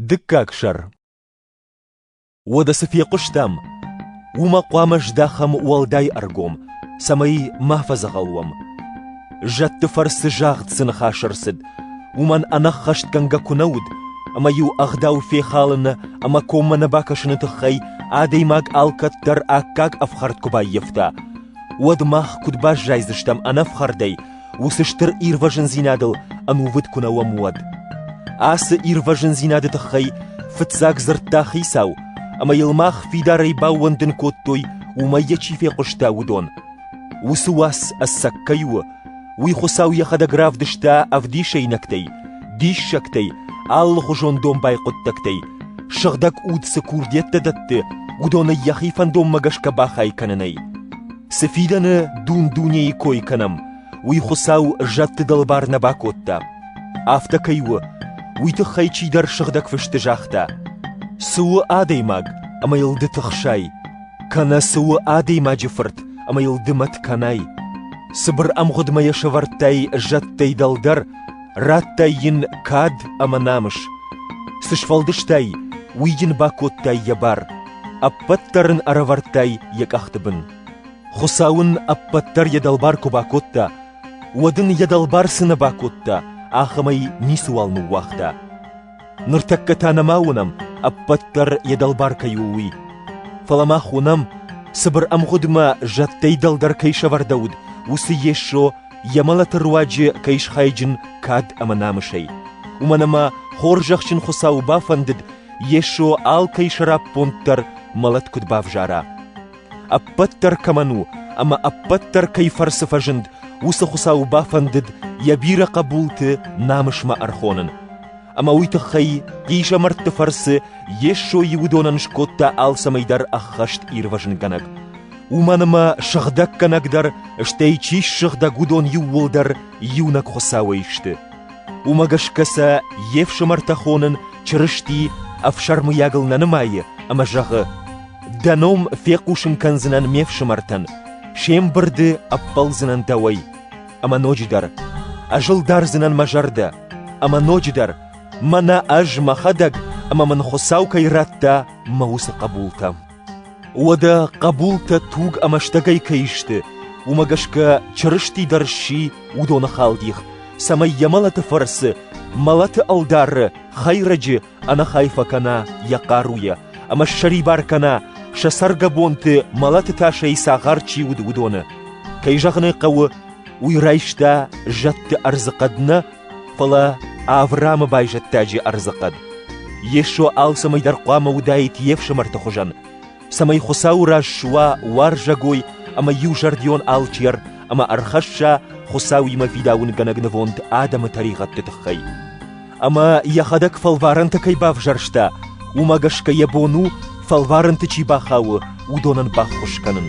Дыккаг сӕр. Уӕдӕ цы фехъуыстам, уымӕ хъуамӕ здахӕм уӕлдай ӕргом, цӕмӕй ма фӕдзӕгъӕл уӕм. Зӕдты фӕрцы загъд цы ныхас ӕрцыд, уымӕн ӕнӕххӕстгӕнгӕ куы нӕ уыд, ӕмӕ-иу ӕгъдау фехалыны ӕмӕ коммӕ нӕ бакӕсыны тыххӕй адӕймаг алкӕддӕр аккаг ӕфхӕрд куы баййӕфта, уӕд мах куыд баззайдзыстӕм ӕнӕфхӕрдӕй, уыцы стыр ирвӕзындзинадыл ӕнувыд куы нӕ уӕм, уӕд. Ацы ирвӕзындзинады тыххӕй фыццаг дзырдта Хицау, ӕмӕ йыл мах фидарӕй баууӕндын кодтой, уымӕй йӕ чи фехъуыста, уыдон. Уыцы уац ӕцӕг кӕй у, уый Хуыцау йӕхӕдӕг равдыста ӕвдисӕйнӕгтӕй, диссӕгтӕй, алыхуызон домбай хъуыддӕгтӕй, сыгъдӕг уд цы курдиӕттӕ дӕтты, уыдонӕй йӕхи фӕндонмӕ гӕсгӕ бахай кӕнынӕй. Цы фидӕны дун-дунейы кой кӕнӕм, уый Хуыцау зӕдты дӕлбар нӕ бакодта. Афтӕ кӕй у, уый тыххӕй чидӕр сыгъдӕг фысты загъта: «Цы у адӕймаг, ӕмӕ йыл ды тыхсай, кӕнӕ цы у адӕймаджы фырт, ӕмӕ йыл ды мӕт кӕнай. Цыбыр ӕмгъуыдмӕ йӕ сӕвӕрдтай зӕдтӕй дӕлдӕр, радтай йын кад ӕмӕ намыс. Цы сфӕлдыстай, уый йын бакодтай йӕ бар. Ӕппӕт дӕр ын ӕрӕвӕрдтай йӕ къӕхты бын. Хуыцау ын ӕппӕт дӕр йӕ дӕлбар куы бакодта, уӕд ын йӕ дӕлбар цы нӕ бакодта, ахӕмӕй ницыуал ныууагъта. Ныртӕккӕ та нӕма уынӕм, ӕппӕт дӕр йӕ дӕлбар кӕй у, уый. Фӕлӕ мах уынӕм, цыбыр ӕмгъуыдмӕ зӕдтӕй дӕлдӕр кӕй сӕвӕрдӕуыд, уыцы Йесо йӕ мӕлӕты руаджы кӕй схайджын кад ӕмӕ намысӕй. Уымӕн ӕмӕ хорзӕхджын Хуыцауы бафӕндыд, Йесо алкӕй сӕраппонд дӕр мӕлӕт куыд бавзара? Ӕппӕт дӕр кӕмӕн у ӕмӕ ӕппӕт дӕр кӕй фӕрцы фӕзынд, уыцы Хуыцау бафӕндыд йӕ бирӕ хъӕбулты намысмӕ ӕрхонын. Ӕмӕ уый тыххӕй хъизӕмӕртты фӕрцы Йесо Иудонӕн скодта алцӕмӕй дӕр ӕххӕст ирвӕзынгӕнӕг. Уымӕн ӕмӕ сыгъдӕггӕнӕг дӕр, стӕй чи ссыгъдӕг, уыдон иууылдӕр иунӕг Хуыцауӕй сты. Уымӕ гӕсгӕ сӕ йе фсымӕртӕ хонын Чырысти ӕфсӕрмыйагыл нӕ нымайы ӕмӕ зӕгъы: «Дӕ ном фехъусын кӕндзынӕн ме фсымӕртӕн, се мбырды ӕппӕлдзынӕн дӕуӕй. Ӕмӕ ноджыдӕр ӕз ӕлдардзынӕн мӕ зӕрдӕ, ӕмӕ ноджыдӕр мӕнӕ ӕз мӕхӕдӕг ӕмӕ мын Хуыцау кӕй радта мӕ уыцы хъӕбултӕ». Уӕдӕ хъӕбултӕ туг ӕмӕ стӕгӕй кӕй сты, уымӕ гӕсгӕ Чырысти дӕр сси уыдоны халдих, цӕмӕй йӕ мӕлӕты фӕрцы мӕлӕты ӕлдары хӕйрӕджы ӕнӕхай фӕкӕна йӕ хъаруйӕ ӕмӕ ссӕрибар кӕна, сӕ цӕргӕбонты мӕлӕты тасӕй цагъар чи уыд, уыдоны. Кӕй зӕгъын ӕй хъӕуы, уый райста зӕдты ӕрдзы хъӕд нӕ, Фӕлӕ Авраамы байзӕддаджы ӕрдзы хъӕд, Йесо алцӕмӕй дӕр хъуамӕ уыдаид йе фсымӕрты хуызӕн, цӕмӕй Хуыцауы раз суа уарзӕгой ӕмӕ иузӕрдион алчер ӕмӕ ӕрхӕсса Хуыцауимӕ фидауынгӕнӕг нывонд адӕмы тӕригъӕдты тыххӕй. Ӕмӕ йӕхӕдӕг фӕлварӕнтӕ кӕй бавзӕрста, уымӕ гӕсгӕ йӕ бон у, фӕлварӕнты чи бахауы, уыдонӕн баххуыс кӕнын.